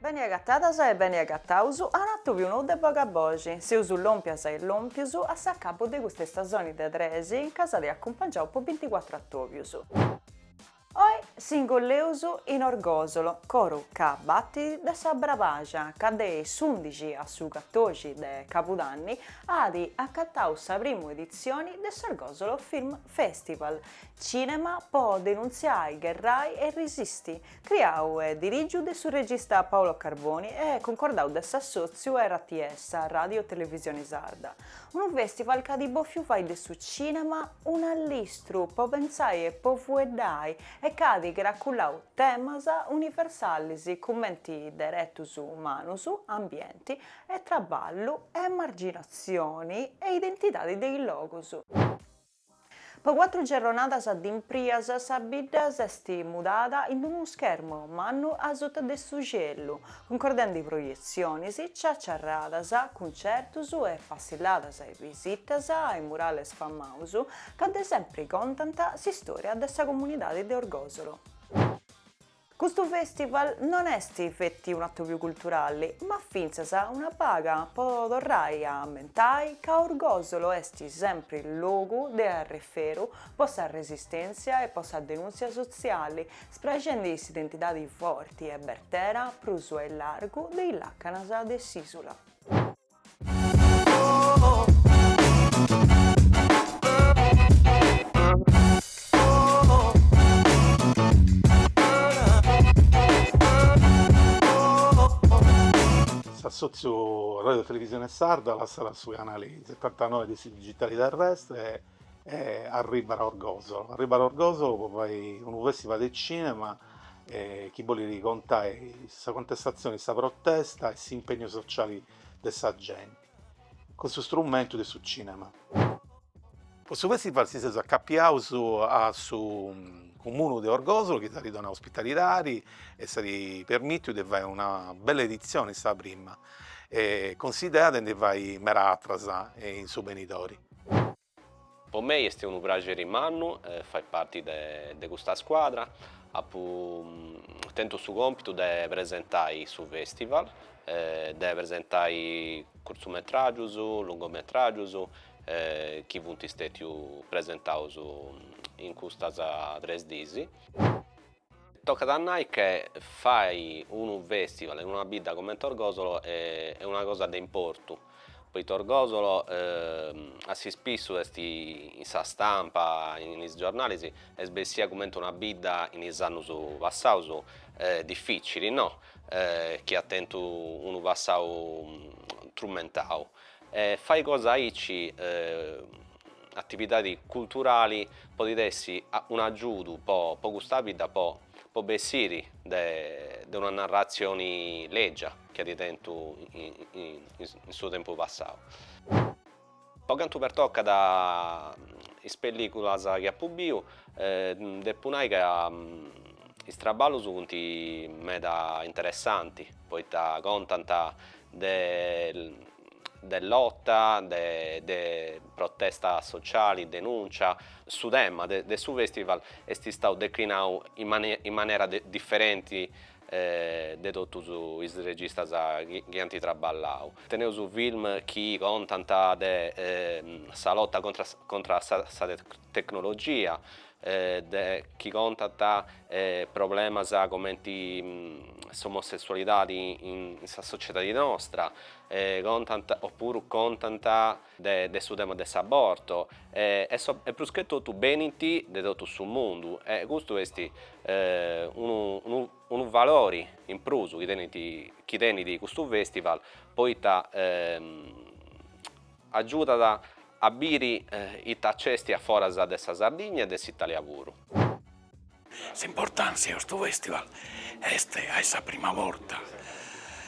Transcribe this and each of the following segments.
Beni agatadas e beni agataus a un'atubiu nou de Bogaboxi, seus lòmpias e lòmpius a s'acabu de custa istasoni de trexi ca si at acumpangiau po binticuatru atobius. Oi s'ingolleus in Orgòsolo, coru ca batit de sa Brabaxa ca de s'undixi a su catoxi de cabudanni at acatau sa prima editzioni de s'Orgòsolo Film Festival, cinema po denuntziai, gherrai e risisti, Criau e dirigiu de su regista Paolo Carboni e cuncordau de s'assòtziu RTS, Ràdio Televisione Sarda, unu fèstival ca at bòfiu fai de su cìnema un'allistru po pentzai e po fueddai e ca at cracullau temas universalis cumenti deretus umanus, ambienti e traballu, emarginatzioni e identidadi de is logus. Po cuatru gerronadas dimprias sa bidda s'est mudada in unu schermu mannu a suta de su cielu, cuncordendi proietziones, ciaciarradas, cuncertos e passilladas e visitas a is murales famados ca de sempri contant s'istòria de sa comunidade de Orgòsolo. Custu festival non est feti un'atobiu culturali, ma fintzas una baga po torrai a ammentai ca Orgosolo est sempri logu de arreferu po sa resistèntzia e po sa denùntzia sotziali, spraxendi s'identidadi forti e bertera prus a illargu de is làcanas de s'ìsula. S'assòtziu Ràdio Televisione Sarda lassat su canale setantanoe de su digitale terrestre e e arribat a Orgosolo, arribat a Orgosolo pro fai unu festival de cinema e chi bolit contai sa contestazione e sa protesta e s'impegnu sociale de sa genti cun su strumentu de su cinema. Pro su festival si seus acapiaus a su comunu de Orgosolo chi s'at donau ospitalidadi e s'at permitiu de fai una bella edizione, sa prima, e cun s'idea de ndi fai meda atras in su benidori. Po mei est unu praxeri mannu fai parti de custa scuadra, apu tentu su compitu de presentai su festival, de presentai curtzumetràgius, lungometràgius chi funt stètiu presentaus in custas tres diis. Tocat a nai che fai unu festival in una bidda comente Orgosolo est una cosa de importu, poita Orgosolo a s'ispissu est in sa stampa, in is giornalis, est bessia comente una bidda in is annus passaus dificili no, chi at tentu unu passau trumentau e fai cosa aici atividadi culturali podit essi un'agiudu po po custa bidda po po bessiri de de una narratzioni lègia chi at tentu in su tempus passau. Po cantu pertocat is pellìculas chi apu biu depu nai ca is traballus funt meda interessanti poita contant de de lota, de protesta sociali, denùntzia, su tema de su festival est istau declinau in manera diferenti de totus is registas chi ant traballau. Teneus film chi contant de sa lota contra sa tecnologia, de chi contant problemas comenti s'omossessualidadi in sa sociedadi nostra, contant opuru contant de su tema de s'aborto e e prus che totu benint de totu su mundu e custu esti unu unu valori in prus chi tenint chi tenit custu festival poita agiudat a biri ita nc'est a foras de sa Sardigna e de s'Italia puru. S'importàntzia 'e custu fèstival est a est sa prima borta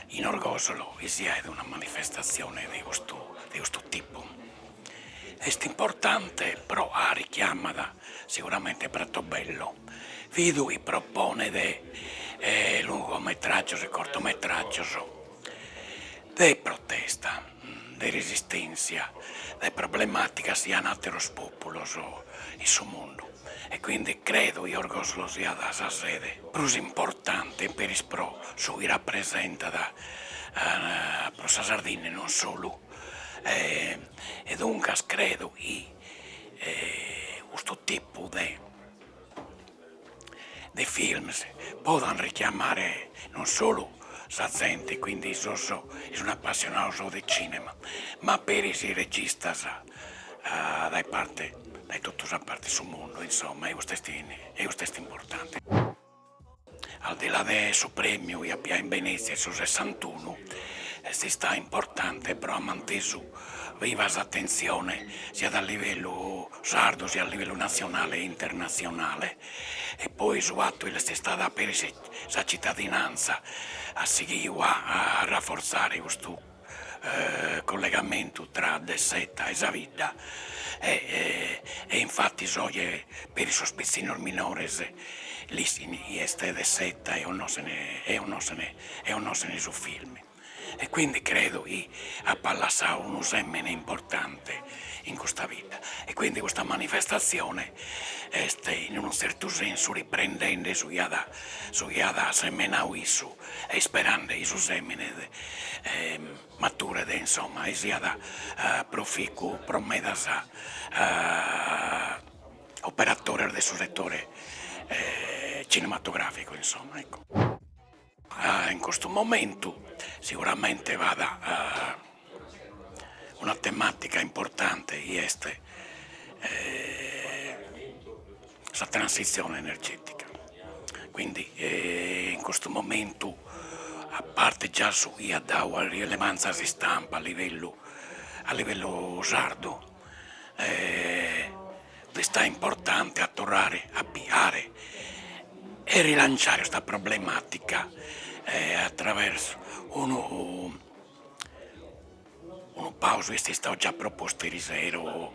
in Orgosolo chi si 'aet una manifestatzione de custu de custu tipu. Est importante pro 'a richiamat siguramente Pratobello, bidu chi proponet lungometràgios e cortometràgios. de protesta, de resistèntzia, de problemàticas chi an àteros pòpulos in su mundu e quindi credo chi Orgoslo siat sa sede prus importante peris pro su chi rapresentat pro sa Sardinna e non solu e duncas credo chi custu tipu de de films podan richiamare non solu sa zente, quindi sos chi sun appassionados de cinema, ma peris registas dae parte dae totu sa parte 'e su mundu, insomma e custu est e custu est importante. Al di là de su premiu chi at àpiu in Venezia in su sessantunu, est istadu importante pro 'a at mantesu Viva s'atentzione siat a livellu sardu siat a livellu natzionale e internatzionale e poi su fatu chi l'est istada dada peri sa citadinantza at sighiu a arraforzare custu collegamentu tra De Seta e sa bidda e e infatis oje peri sos pitzinnos minores l'ischin chie est De Seta e connoschene e connoschene e connoschene su film. e quindi credo chi apat lassadu unu semene importante in custa bidda e quindi custa manifestazione est in unu zertu sensu riprendende su chi at su chi at semenadu issu e isperende chi su semene maturet insomma e siat proficu pro medas operatores de su settore cinematografico insomma ecco. In custu momentu seguramente b'at una tematica importante chi est sa transitzione energetica, quindi in custu momentu a parte già su chi at dadu a rilevanza a s'istampa a livellu a livellu sardu e est importante a torrare a piare e rilanciare custa problematica attraversu unu unu pausu est istadu già propostu eri sero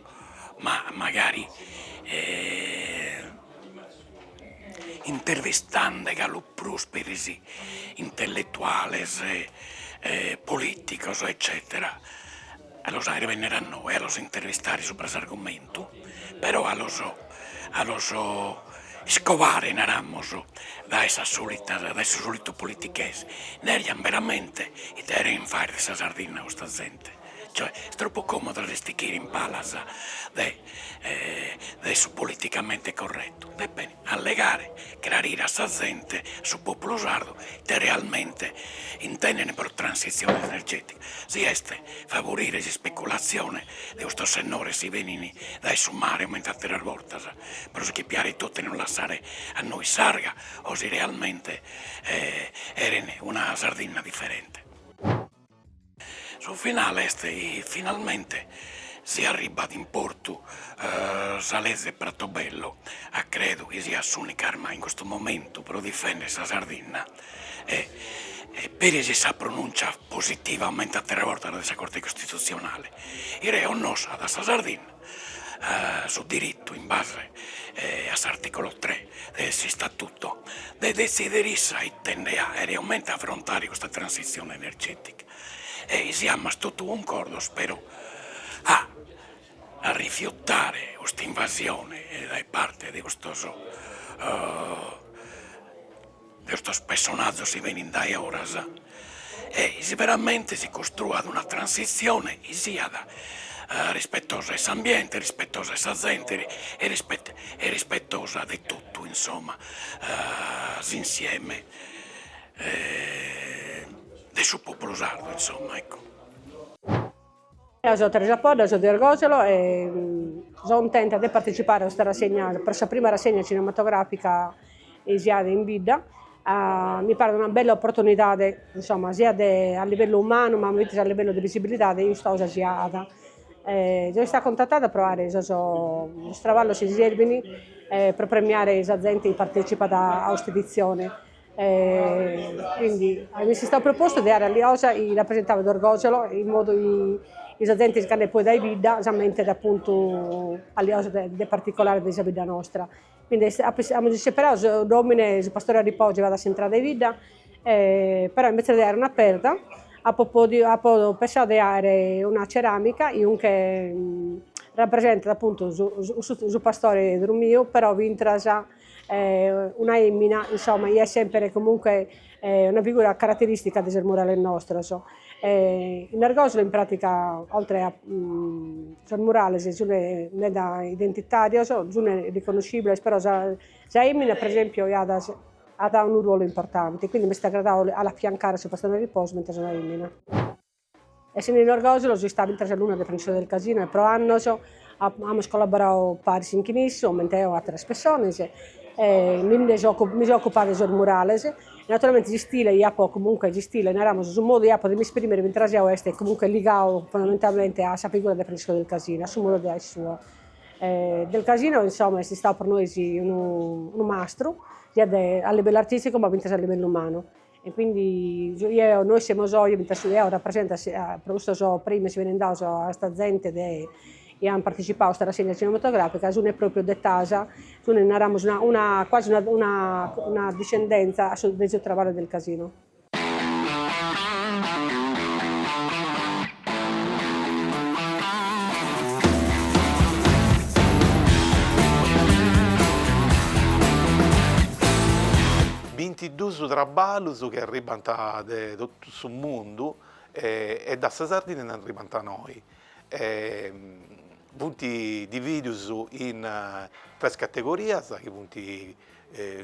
ma magari e intervistende galu prus peri sos intelletuales e politicos eccetera A los faghere bennere a inoghe a los intervistare subra s'argumentu, però a los a los iscobare, naramos, dae sas solitas dae su solitu politichese, nerian beramente ite cherent fagher de sa Sardinna custa zente, cioè est troppu comodu a s'istichire in palas de de su politicamente corretto, e bene. allegare, crarire a sa zente, su populu sardu, ite realmente intendene pro transitzione energetica, si est favorire s'ispeculatzione de custos sennores chi benini dae su mare comente atteras bortas pro si che piare totu e non lassare a nois s'arga o si realmente cheren una Sardinna differente. Su finale est chi finalmente si arribat in portu sa leze 'e Pratobello, ca credo chi siat s'unica arma in custu momentu pro difender sa Sardinna e peri si sa pronùncia positivamente atteras bortas dae sa Corte Costitutzionale, chi reconnoscat sa Sardinna. su diritu in base a s'articulu tre de s'Istatutu de detzidere issa ite nde aere e comente afrontare custa transizione energetica e chi siamas totu cuncordos però a rifiutare custa invasione dae parte de custos Custos pessonazos chi benint dae oras e chi veramente si costruat una transitzione chi siat rispetosa 'e s'ambiente, rispetosa 'e sa zente e rispetosa de totu insomma s'insieme de su populu sardu insomma ecco. Deo so Teresa Podda, so de Orgòsolo e so cuntenta de partetzipare a custa rassegna, pro sa prima rassegna cinematogràfica chi si at in bidda. Mi paret una bella oportunidade, insomma, siat a livellu umanu ma fintzas a livellu de visibilidade custa cosa si at. So istada cuntatada pro aer sos sos traballos chi serbint pro premiare sa zente chi partetzipat a cust'editzione E quindi mi est istau propostu de aer calicosa chi rapresentavat Orgosolo in modu chi sa zente ch'andat poi dae bidda s'ammentet apuntu calicosa de de particolare de sa bidda nostra quindi est apo amus isseperau s'omine su pastore a riposo chi b'at a s'intrada 'e bidda e però imbetzes de aer una perda apo podiu apo pensau de aer una ceramica chi comunque rapresentat apuntu su su su pastore drumiu però fintzas una emina insomma chi est semper comunque una figura carateristica de sos murales nostros, in Orgosolo in pratica oltre a sos murales sun meda identitarios, sun riconoscibiles però sa sa emina per esempio iat at unu ruolu importante, quindi m'est agradau a l'affiancare a su pastore a riposo fintzas una emina Essende in Orgòsolo so istada fintzas alunna de Francisco del Casino e pro annos amus collaboradu paris in chin issu, comente eo àteras pessones, e mi nde so mi so ocupada de sos murales, naturalmente s'istile chi apo comunque s'istile naramos su modu chi apo de mi esprimere fintzas eo est comunque ligadu fondamentalmente a sa figura de Francisco del Casino, a su modu de aer suo. Del Casino insomma est istadu pro nois unu unu mastru, siat a livellu artisticu ma fintzas a livellu umanu E quindi su chi eo, nois semus oe, fintzas su chi eo rapresentat si pro custos premios chi benin daos a custa zente de chi an partecipau a custa rassegna cinematografica, sune propriu de Taxa, sun naramus una una quasi una una una discendenza a su de su traballu del Casino. Bintiduus traballus chi arribbant de totu su mundu e da sa Sardinna nd'arribbant noi. Funt dividius in tres categorias chi funt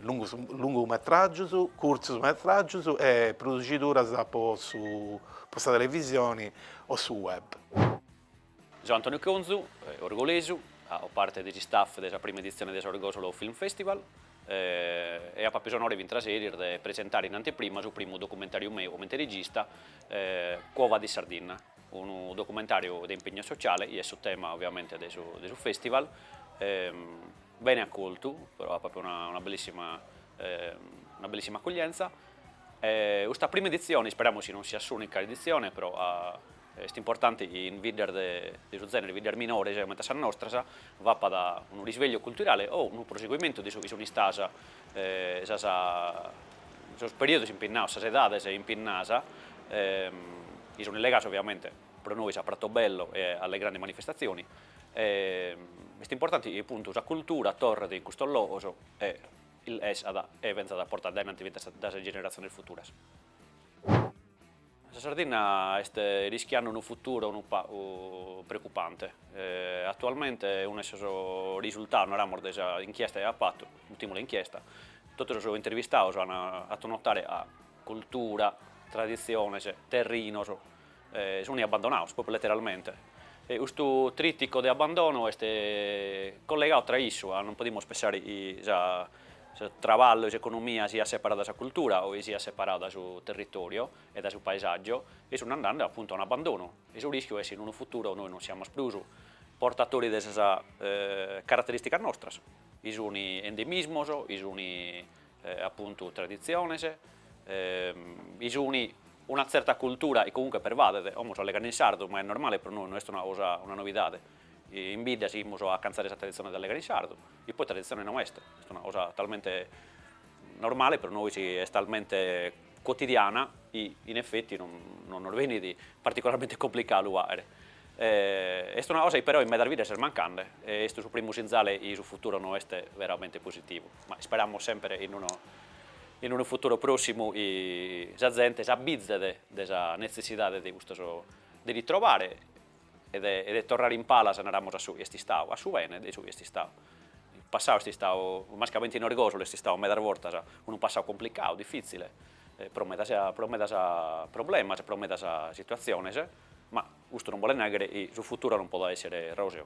lungus lungu metragius, curtzus metragius e produxiduras po su po sa televisioni o su web. So Antoniu Conzu, orgolesu faco parte de s'istaff de sa prima editzione de s'Orgosolo Film Festival e apo àpidu s'onore fintzas eris de presentare in anteprima su primu documentàriu meu comente regista, Quo vadis Sardinna, unu documentàriu de impegnu sociale, chi est su tema ovviamente de su de su festival, bene acoltu, pro apo apo una bellissima una bellissima accoglienza e custa prima editzione, isperamus chi non siat s'unica editzione pro Est importanti chi in biddas de su zènere, biddas minores comente a sas nostras, b'apat unu risvegliu culturale o unu proseguimentu de su chi sunt istadas sas sos periodos impinnados, sas edades impinnadas, chi sunt legadas ovviamente pro nois a Pratobello e alle grandi manifestazioni. Est importanti chi appuntu sa cultura torret in custos logos e essat e benzat portada aìnanti fintzas dae sas generatziones futuras. Sa Sardinna est rischiandu unu futuro unu pagu preocupante. Atualmente unu 'e sos risultados, naramos, de sa inchiesta chi apo fatu, ùltima inchiesta, totu sos intervistados an fatu notare ca cultura, traditziones, terrinos sun abbandonados, propriu letteralmente. E custu tritico de abbandono est collegadu tra issu, ca non podimus pensare, sa Su traballu e s'economia siat separau da sa cultura o chi siat separau da su territoriu e da su paesàgiu e sun andende apuntu a un abandonu e su rìschiu est chi in unu futuru nois non siamus prus portatori de sas carateristicas nostras, chi sun endemismos, chi sun apuntu traditziones, chi sun una tzerta cultura chi comunque pervadet, como so allegande in sardu, ma est normale pro nois, no est una cosa, una novidade. In bidda sighimus a acantzare sa traditzione de allegare in sardu, chi poi traditzione no est, est una cosa talmente normale pro nois, est talmente cotidiana chi in effetti non non nos benit particolarmente complicadu fàghere. Est una cosa chi però in medas biddas est mancande e est su primu sinzale chi su futuro no est veramente positivu, ma isperamus semper in unu in unu futuro pròssimu chi sa zente s'abbizet de sa netzessidade de custos de ritrovare e de torrare in palas naramus a su chi est istadu, a su bene de su chi est istadu. In passau est istadu, mascamente in Orgòsolo est istadu medas bortas unu passau complicadu, difitzile, pro medas pro medas problemas, pro medas situatziones, ma custu non bolet nàrrere chi su futuro non podet èssere ròseu.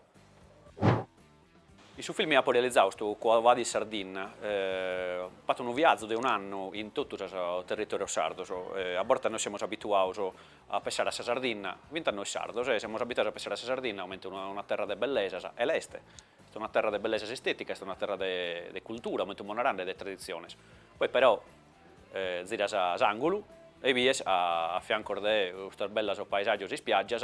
In su filme apo realizadu custu Quo vadis Sardinna, fatzu unu viazu de un'annu in totu sos territorios sardos, a bortas nois semus abituados a pensare a sa Sardinna, fintzas nois sardos, e semus abituados a pensare a sa Sardinna comente una terra de bellesas, e l'est, est una terra de bellesas esteticas, est una terra de cultura, comente ipo narande, e de traditziones, poi però ziras s'angulu e bies a fiancos de custas bellas paesaggios ispiaggias,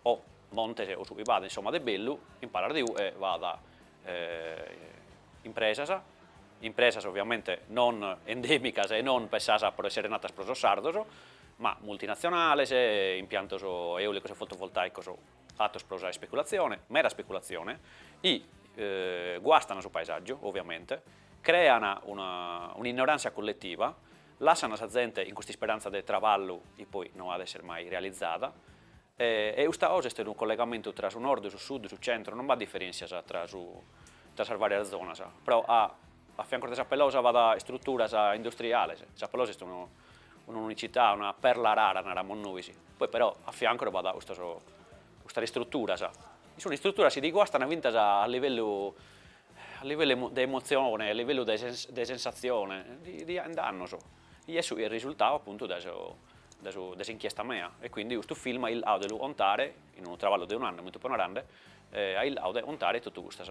o Montes o su chi b'at insoma de bellu in palas de ue b'at impresas, impresas oviamente non endemicas e non pensas pro essere natas pro sos sardos, ma multinazionales, impiantos eolicos e fotovoltaicos fatos pro sa ispeculazione, mera ispeculazione, chi guastan su paesaggiu oviamente, crean un'innoranzia colletiva, lassan sa zente in cust'isperanza de traballu chi poi no at essere mai realizada, E custa cosa est unu collegamentu tra su Nord, su Sud, su Centro, non b'at diferèntzias tra su tra sas vàrias zonas, però a a fiancos de Sa Pelosa b'at istruturas industriales, Sa Pelosa est unu un'unicità, una perla rara naramos nois, poi però a fiancos b'at custos custas istruturas, chi sun istruturas chi ti guastan fintas a livellu a livellu de emotzione, a livellu de de sensatzione, ti ti ain dannos Chi est su risultau apuntu de de s'inchiesta mea e quindi custu film at chircau de lu contare in unu traballu de un'annu comente ipo narande at chircau de contare totu custas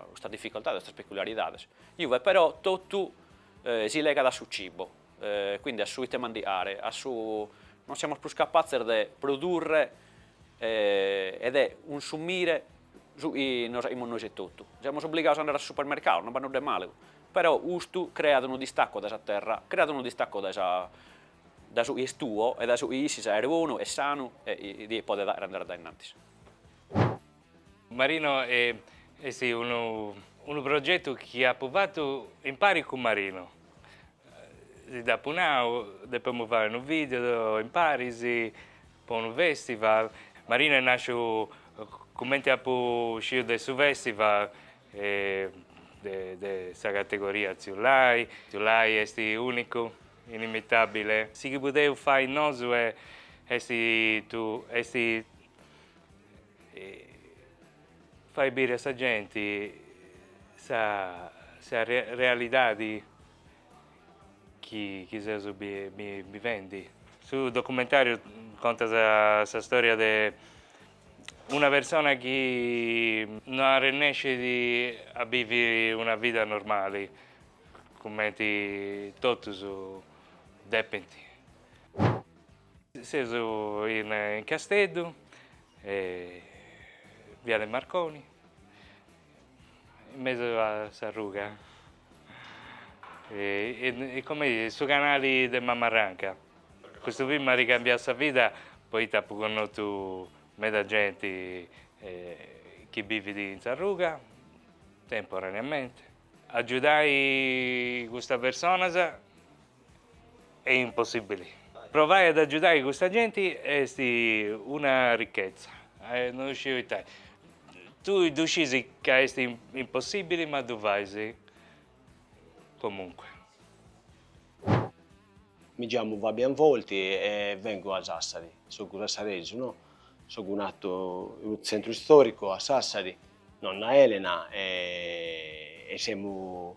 custas difficoltades custas peculiaridades. Iuve però totu si legat a su cibo quindi a su ite mandiare a su non semus prus capatzes de produrre e de cunsumire su chi nos aimus nois etotu. Semus obligados a andare a su supermercau, non b'at nudda 'e malu Però custu creat unu distacu dae sa terra, creat unu distacu dae sa dae su chi est tuo e dae su chi ischis aer bonu e sanu e ti podet aer andare a dae innantis. Marino e est unu unu progetu chi apu fatu impari cun Marino, si dd'apu nau, depemus fai unu video imparis po unu festival, Marino est nasciu cumenti apu sciu de su festival de sa categoria Tziu Lai. Tziu Lai est ùnicu, inimitàbile. Su chi podeus fai nosu est fai biri a sa genti sa realidadi chi seus bivendi. Su documentàriu contat sa stòria de Una persona chi no arrennescit a biviri una vida normali cumenti totus depint. Seus in Casteddu, Viale Marconi, in mesu a s'arruga. E comei est su canali de Mamarranca. Custu film m'at cambiau sa vida poita apu connotu meda genti chi bivit in s'arruga, temporaneamenti. Agiudai custas personas E' impossibili. Provai ad agiudai custa genti est una ricchezza. No ddu sciu itai. Tui ddu scisi ca est impossibili ma ddu fais comunque. Mi giamu Fabian Volti e vengu da Sassari. Sogu sassaresu, no? Sogu natu in lu tzentru istoricu a Sassari, nonna Elena e semu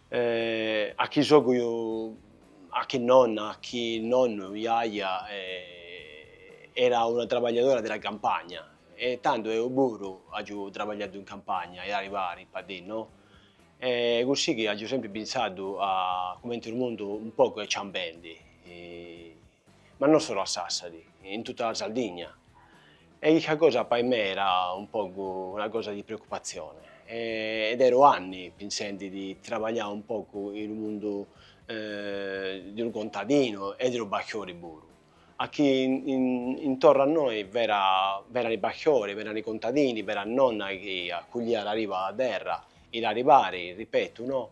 A chi sogu, a chi nonna, a chi nonnu, jaja, era una trabagliadora di la campagna e tando eo puru àgiu trabagliadu in campagna e aribari pa dì no? E cusì chi àgiu sempri pinsadu a cumenti lu mundu un pocu è ciambendi. ma non solu a Sassari, in tutta la Sardigna, e chistha cosa pai me era un pogu una cosa di preocupazione, ed ero anni pinsendi di trabaglià un pogu in lu mundu di unu contadinu e di unu pasthori puru, a chi intornu a noi v'era v'erani pasthori, v'erani contadini, v'era nonna chi accuglia l'ariba a terra, i' l'aribari, ripetu no,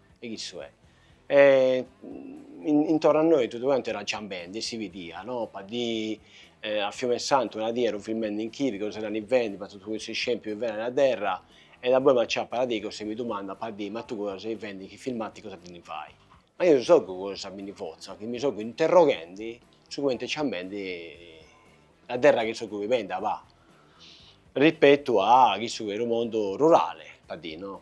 E chissu è. E intorno a noi tuttu cantu era ciambendi e si bidia, no, pa ddi, a Fiumesantu una dì ero filmendi inchibi, cosa era nivende, pa totu cussu iscempiu chi v'era a terra, e daboi m'acciappa a dei cosa e mi dumanda, pa ddi, ma tu cosa sei fendi, chisthi filmati cosa ddi fai? Ma io sogu cosa mi ndi fozzu, chi mi sogu interroghendi su cumenti è ciambendi la terra chi sogu vivendi abba, rispettu a chissu chi è unu mondu rurale, pa dì, no,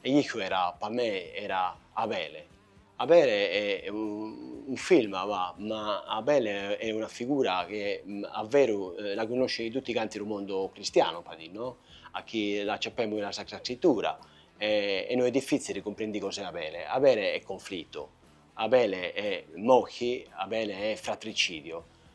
e Niccu era pa me era Abele, Abele è unu film abbà ma Abele è una figura chi a veru la cunnosci tutti canti lu mondo cristianu pa dì no, a chi l'acciappemu in la Sacra Scritura e e no è diffizzili cumprendi cos'è Abele, Abele è conflittu, Abele è morthi, Abele è fratricidio,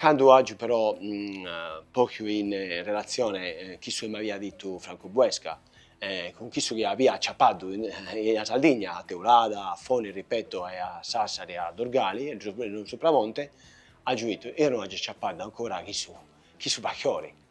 Candu àgiu però posthu in relatzione chissu chi m'avia ditu Francu Buesca, cun chissu chi avia aciapaddu in la Sardigna, a Teulada, a Foni, ripeto, e a Sàssari, a Durgali, e ddus puru in Supramonte, àgiu ditu, eo no àgiu aciapaddu ancora chissu, chissu pasthori.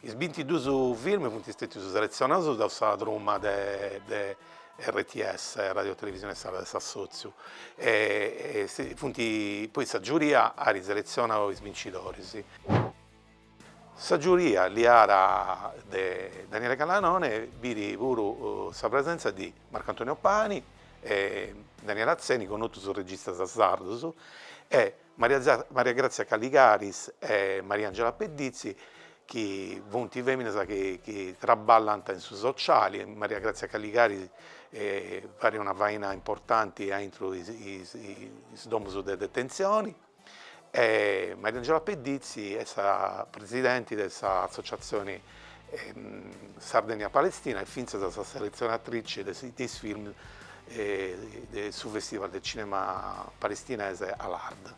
Is bintiduus film funt stètius seletzionaus daus sa truma de RTS, Radio Televisione Estradale de s'Assòtziu, e funt, apoi sa giuria at seletzionau is bincidoris. Sa giuria ghiada de Daniele Gaglianone biit puru sa presèntzia de Marco Antonio Pani e Daniele Atzeni, connotus registas sardus, e Maria Grazia Caligaris e Maria Angela Pedizzi chi funt fèminas chi traballant in su sociali, Maria Grazia Caligaris faghet una faina importanti aintru is domus de detenzioni e Maria Angela Pedizzi est sa presidenti de s'associatzioni Sardegna-Palestina e fintzas sa selezionatrice de is films de su Festival de Cinema Palestinese Al-Ard.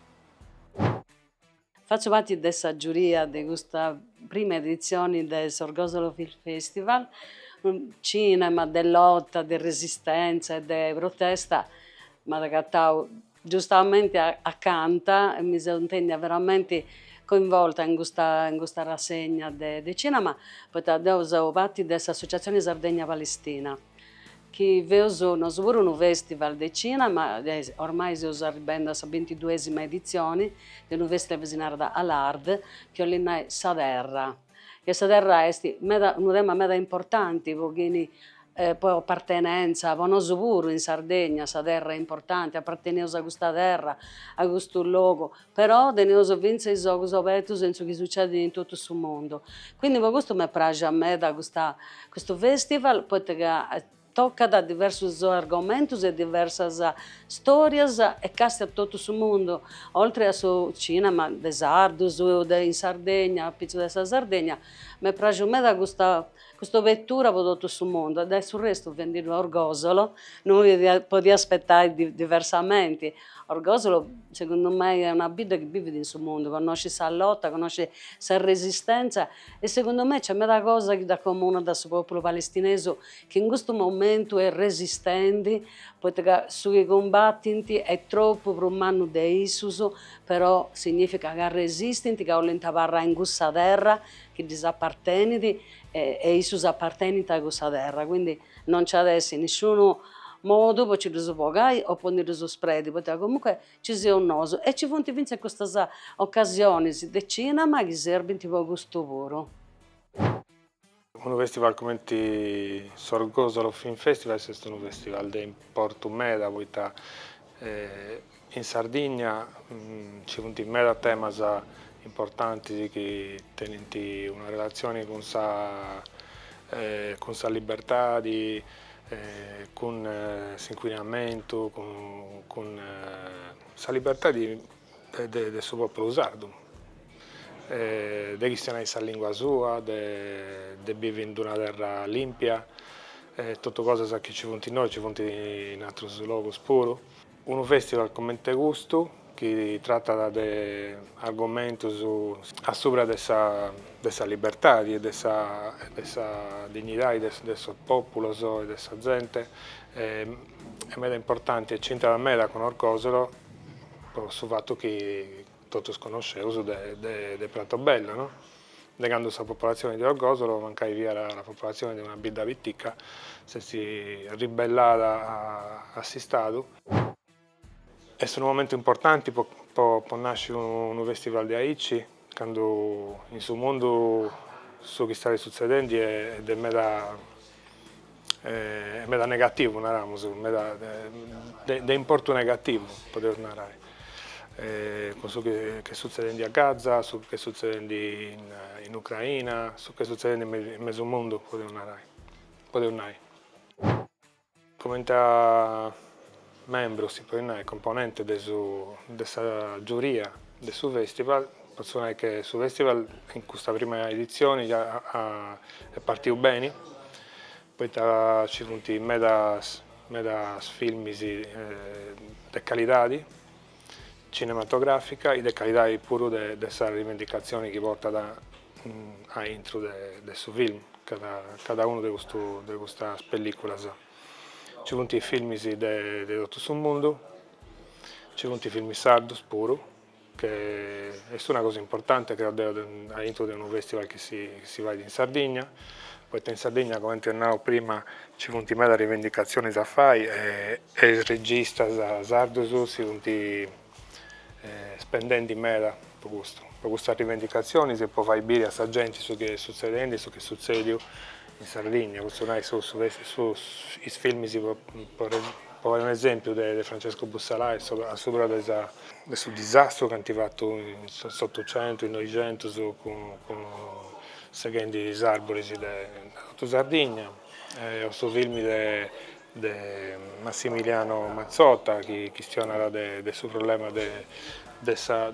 Fatzu parti de sa giuria de custa prima editzioni de s'Orgosolo Film Festival, cinema de lota, de resistentza e de protesta m'at acatau Giustamente ca mi seu intendia veramenti coinvolta in custa in custa rassegna de de cinema, poita deu seu parti de s'Associazioni Sardegna Palestina, chi feus nosu puru unu festival de cinema, ormai seus arribendi a sa bintiduesima edizioni de unu festival chi si narat Al'Ard, chi 'olit nai sa terra, Ca sa terra est meda unu tema meda importanti po chi po appartenenza, po nosu puru in Sardegna sa terra est importanti, apparteneus a custa terra, a custu logu, però teneus finzas is ogus abertus in su chi sucedit in totu su mundu, quindi po custu m'est praxia meda custa custu festival, poita ca Tocat diversus argomentus e diversas stòrias e castiat totu su mundu, oltre a su cìnema de sardus de in Sardegna, apitzus de sa Sardegna. M'est pràxiu meda custa cust'obetura pro totu su mundu e de su restu benendi a Orgosolo no mi podia aspetai diversamenti. Orgosolo segundu mei est una bidda chi bivit in su mundu, connoscit sa lota, connoscit sa resistèntzia e segundu mei nc'est meda cosa chi dd'accomunat a su pòpulu palestinesu chi in custu momentu est resistendi, poita ca su chi cumbatint est tropu prus mannu de issus, però significat ca resistint, ca 'olint abarrai in cussa terra chi ddis apartenit e issus apartenint a cussa terra, quindi non nc'at essi nisciunu modu po nci ddus bogai o po ndi ddus sperdi, poita ca comunque nci seus nosu e nci funt fintzas custas ocasionis de cinema chi serbint po custu puru. Unu festival cumenti s'Orgosolo Film Festival est unu festival de importu meda poita in Sardigna nci funt meda temas importantis chi tenint una relatzioni cun sa cun sa libertadi cun s'incuinamentu cun sa libertadi de su pòpulu sardu, de chistionai sa lìngua sua, de bivi in una terra lìmpia, totu cosas chi nci funt innoi nci funt in atrus logus puru. Unu fèstival cumenti custu chi tratat de argomentus a subra de sa libertadi e de sa dignidadi de sos pòpulos e de sa zente est meda importanti e nc'intrat meda cun Orgosolo po su fatu chi totus connosceus de Pratobello, no? de cando sa popolatzione de Orgosolo mancai fiat una popolatzione de una bidda pitica, s'est ribellada a s'Istadu. Est unu momentu importanti po nasci unu festival de aici, Candu in su mundu su chi istat sutzedende est de meda est meda negativu naramus, meda de de importu negativu podeus narai, cun su chi ch'est sutzedende a Gaza, su chi ch'est sutzedende in in Ucraina, su chi ch'est sutzedende in mesu in mesu mundu podeus narai podeus nai. Comente a membru, si podit nai, componente de su de sa giuria de su festival, potzu nai che su festival in custa prima editzioni ja est partiu beni, poita ci funt medas medas filmis de calidadi cinematogràfica e de calidade puru de sa rivendicatzione chi portat a intro de su film cada unu de custas pellìculas. Nci funt filmis de totu su mundu, nci funt filmis sardos puru, che est una cosa importante creo deo a intro de unu festival chi si fait in Sardigna, poita in Sardigna comente apo nau prima nci funt meda rivendicatziones a fai e E is registas sardos si funt spendendi meda po custu, po custas rivendicatzionis e po fai biri a sa genti su chi est sutzedendi e su chi est sutzèdiu in Sardigna, potzu nai sos is filmis po fai un'esèmpiu de Francesco Bussalai a subra de sa de su disastru chi ant fatu in s'Otucentu, in Noixentus cun seghendi is arboris de totu Sardigna o su filmi de de Massimiliano Mazzotta chi chistionat de su problema de sa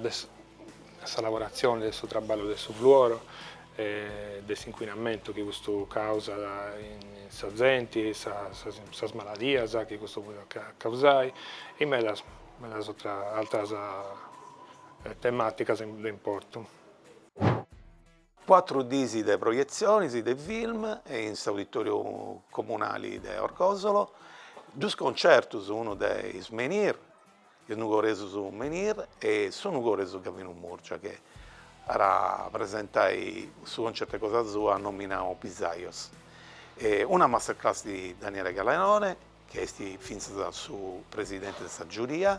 lavoratzione, de su traballu de su fluoro e de s'incuinamentu chi custu causat in sa zenti, sas maladias chi custu podet causai e medas medas atras tematicas de importu. Cuatru diis de proietzionis de film in s'Auditoriu Comunali de Orgosolo, dus concertus, unu de is Menhir, is nugoresus Menhir e su nugoresu Gavinu Murgia chi at a presentai su concertu de cosa sua nominau Pisajos. Una masterclass de Daniele Galeone chi est fintzas su presidenti de sa giuria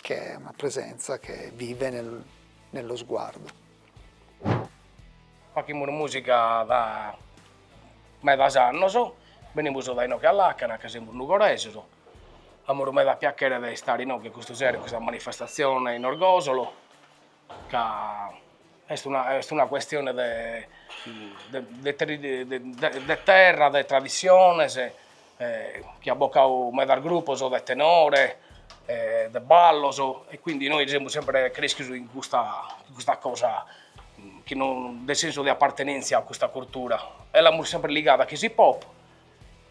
Che è una presenza che vive nello sguardo. Fachimus musica da medas annos, benimus da inoghe a làcana ca semus nugoresos, amus meda piachere de istare inoghe custu sero in custa manifestatzione in Orgosolo. ca est una est una cuestione de de terra, de tradissiones, chi at bocadu medas grupos de tenore e de ballos e quindi nois semus sempre creschios in custa in custa cosa chi nos dat senso de appartenentzia a custa cultura e l'amus sempre ligau a s'hip hop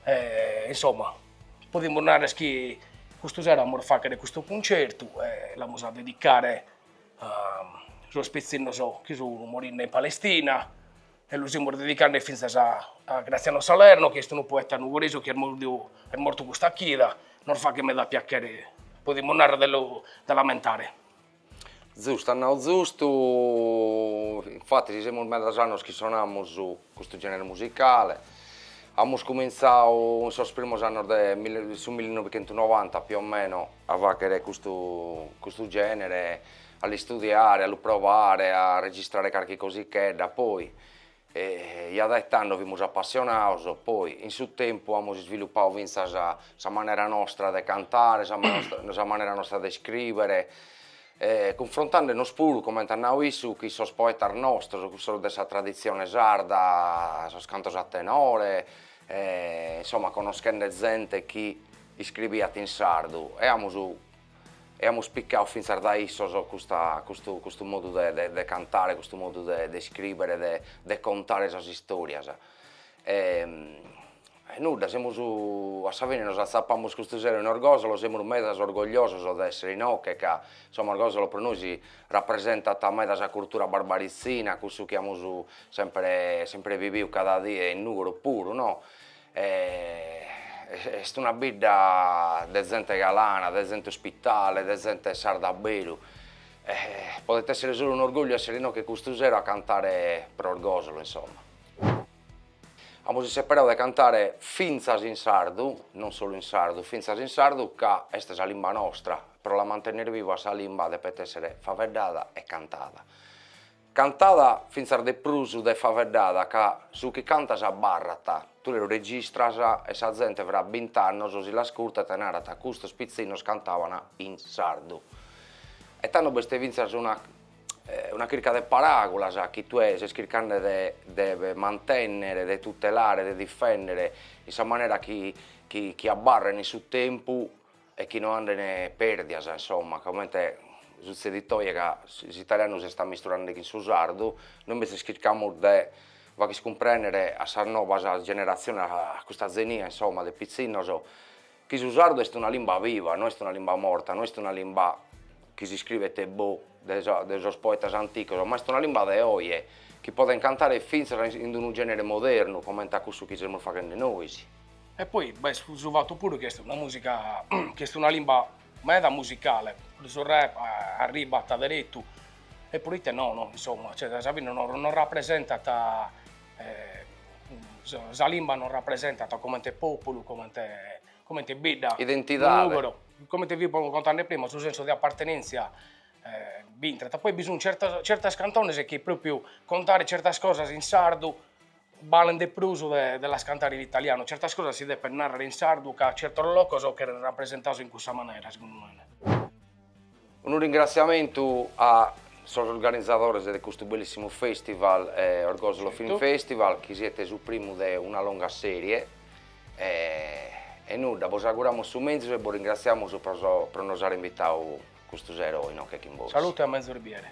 e insomma podimus narrer chi custu sero amus a facher custu cuncertu e l'amus a dedicare Sos pitzinnos chi sun morende in Palestina e lu semus dedicende fintzas a Graziano Salerno chi est unu poeta nugoresu chi est mortu est mortu custa chida, nos faghet meda piachere, podimus narrer de lu de l'ammentare. Zustu, at nadu zustu, infattis semus medas annos chi sonamus custu genere musicale, amus comintzadu in sos primos annos de su millinovichentunovanta più o meno a fàchere custu custu gènere, a l'istudiare, a lu provare, a registrare carchi cosichedda, poi ja dae tando fimus appassionados, poi in su tempus amus isviluppadu fintzas sa manera nostra de cantare, sa sa manera nostra de iscrivere e cunfrontandenos puru comente at nadu issu cun sos poetas nostros, cussos de sa traditzione sarda, sos cantos a tenore e insomma conoschende zente chi Iscribiat in sardu e amus e amus picadu fintzas dae issos custa custu custu modu de de de cantare custu modu de de iscribere de de contare sas istorias e e nudda semus a sa fine nos azzapamus custu sero in Orgosolo semus meda orgogliosos de essere inoche ca insomma Orgosolo pro nois rappresentat meda sa cultura barbarizzina cussu chi amus sempre sempre viviu cada die in Nugoro puru no est una bidda de zente galana, de zente ospitale, de zente sarda a beru, podet essere solu un'orgògliu essere inoghe custu sero a cantare pro Orgòsolo insomma. Amus isseperadu de cantare fintzas in sardu, non solu in sardu, fintzas in sardu ca est sa limba nostra, pro la mantenner viva sa limba depet essere faveddada e cantada Cantada fintzas de prus de faveddada ca su chi cantas abarrat, tue lu registras e sa zente fra bint'annos si l'ascurtat e narat custos pitzinnos cantaban in sardu. E tando b'est fintzas una una chirca de paràgulas chi tue ses chircande de de mantènnere, de tutelare, de difèndere in sa manera chi chi chi abarren in su tempus e chi no andene perdias insomma comente sutzedit oje ca s'italianu s'est ammisturende chin su sardu, nois imbetzes chircamus de fagher a cumprènnere a sas nobas generatziones a custa zenia insomma de pitzinnos chi su sardu est una limba viva, no est una limba morta, no est una limba chi s'iscriet boh de sa de sos poetas antigos, ma est una limba de oje chi poden cantare finzas in d'unu genere modernu comente a cussu chi semus faghende nois. E poi b'est su fatu puru chi est una musica, chi est una limba meda musicale, su rap arribat deretu e puru ite nàrrere, insomma, cioè a sa fine nos rapresentat sa limba nos rapresentat comente populu, comente comente bidda, identidade, comente fia contende prima, su sensu de appartenentzia b'intrat, poi bi sun certas cantones chi propriu contare certas cosas in sardu Balen de prus de las cantare in italianu, certas cosas si depen narrer in sardu ca certos locos cheren rapresentados in cussa manera segundu mene. Unu ringrassiamentu a sos organizadores de custu bellissimu festival Orgosolo Film Festival chi siat su primu de una longa serie e nudda bos auguramus su mezus e bos ringrassiamus pro nos àere invitadu custu sero inoche chin bos. Salute a mezus bìere.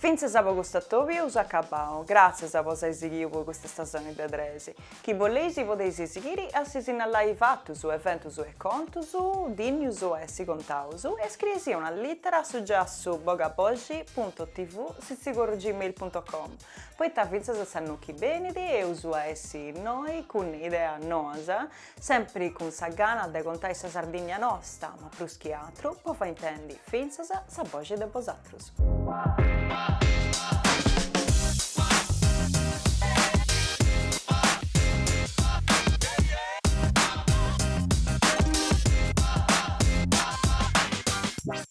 Fintzas po cust'atobiu so acabau, gratzias po s'ai sighiu po custa stasoni de tres tres. Chi boleis i podeis i sighiri a si sinnalai fatus, eventus e contus, dìnnius a essi contaus, scriei-sì una littera a su giassu bogaboxi punto tv sitzigoro gmail punto com, poita fintzas s'annu chi benit eus a essi innoi cun ideas noas, Sempri cun sa gana de contai sa Sardinnia nosta, ma prus chi atru po fai intendi fintzas sa boxi de bosatrus.